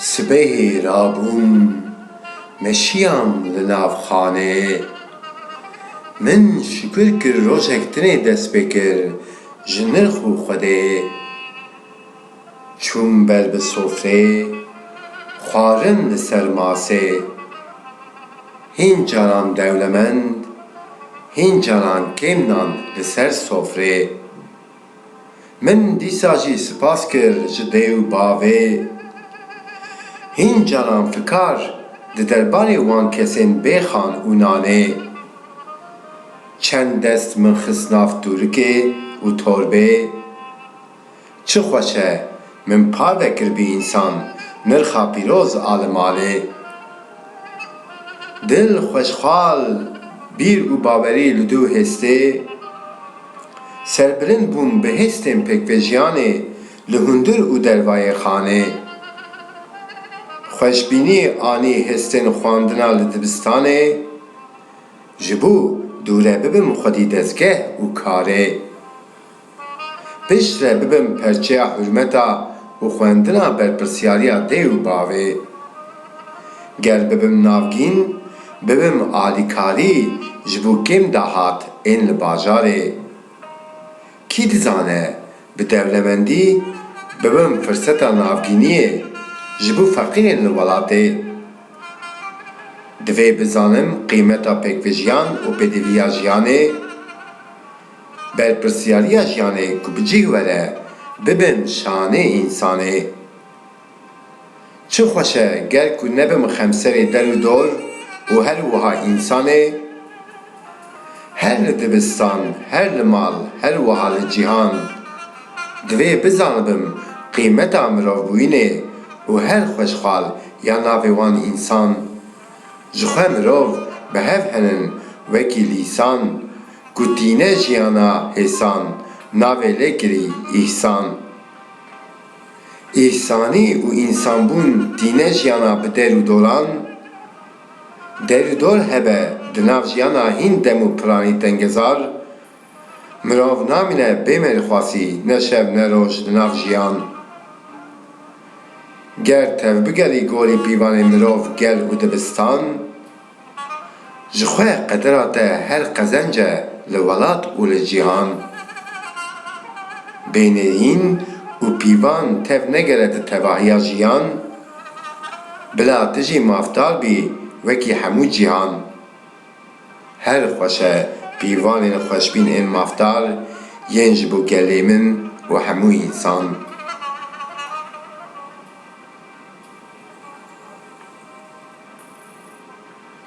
Sibehê rabûn me şiyan li nav xaneyê. Min şukir kir rojek tune dest pê kir ji nirx û xwedeyê. Çûm ber bi sofreyê, xwarin li ser masê. Hîn caran dewlemend, hîn caran kêm nan li ser sofrê. Min dîsa jî sipas kir ji dê û bavê. Hîn caran fikar di derbarê wan kesên bê xan û nanê. Çend dest min xist nav tûrikê û torbê. Çi xweş e Min par vekirbî însan nirxa pîroz a li malê. Dil xweşxal bîr û bawerî li dû hêstê. Serbilind bûm bi hêstên pêkvejiyanê li hundir û dervayê xanê. Xweşbînî anî hêstên xwandina li dibistanê. Ji bo dûre bibim xwedî dezgeh û karê. Pişt re bibin perçeya hurmeta û xwendina berpirsyariya dê û bavê. Ger bibim navgîn, bibim alîkarî ji bo kêm dahat ên li bajarê. Kî dizane bi dewlemendî bibim firseta navgîniyê ji bo feqîrên li welatê. Divê bizanim qîmeta pêkvejiyan û pêdiviya jiyanê. Berpirsyariya jiyanê ku bi cih were bibim şanê însanê. Çi xweş e ger ku nebim xemserê der û dor û her wiha însanê. Her li dibistan, her li mal, her wiha li cîhan. Divê bizanibim qîmeta mirovbûyînê û her xweşxal ya navê wan însan. Jixwe mirov bi hev henin wekî lîsan, ku tîne jiyana hêsan, navê lê kirî îhsan. Îhsanî û însanbûn tîne jiyana bi der û doran, der û dor hebe di nav jiyana hîn dem û piranî tengezar, Mirov namîne bê mêrxwasî ne şev ne roj li nav jiyan. Ger tevbigerî gorî pîvanê mirov gel û dibistan, ji xwe qedera te her qezenc e li welat û li cîhan. Bê nêrîn û pîvan tev negere di tevahiya jiyan, bila tu jî mafdar bî wekî hemû cîhan. Her xweş e pîvanên xweşbîn ên mafdar yên ji bo gelê min û hemû însan.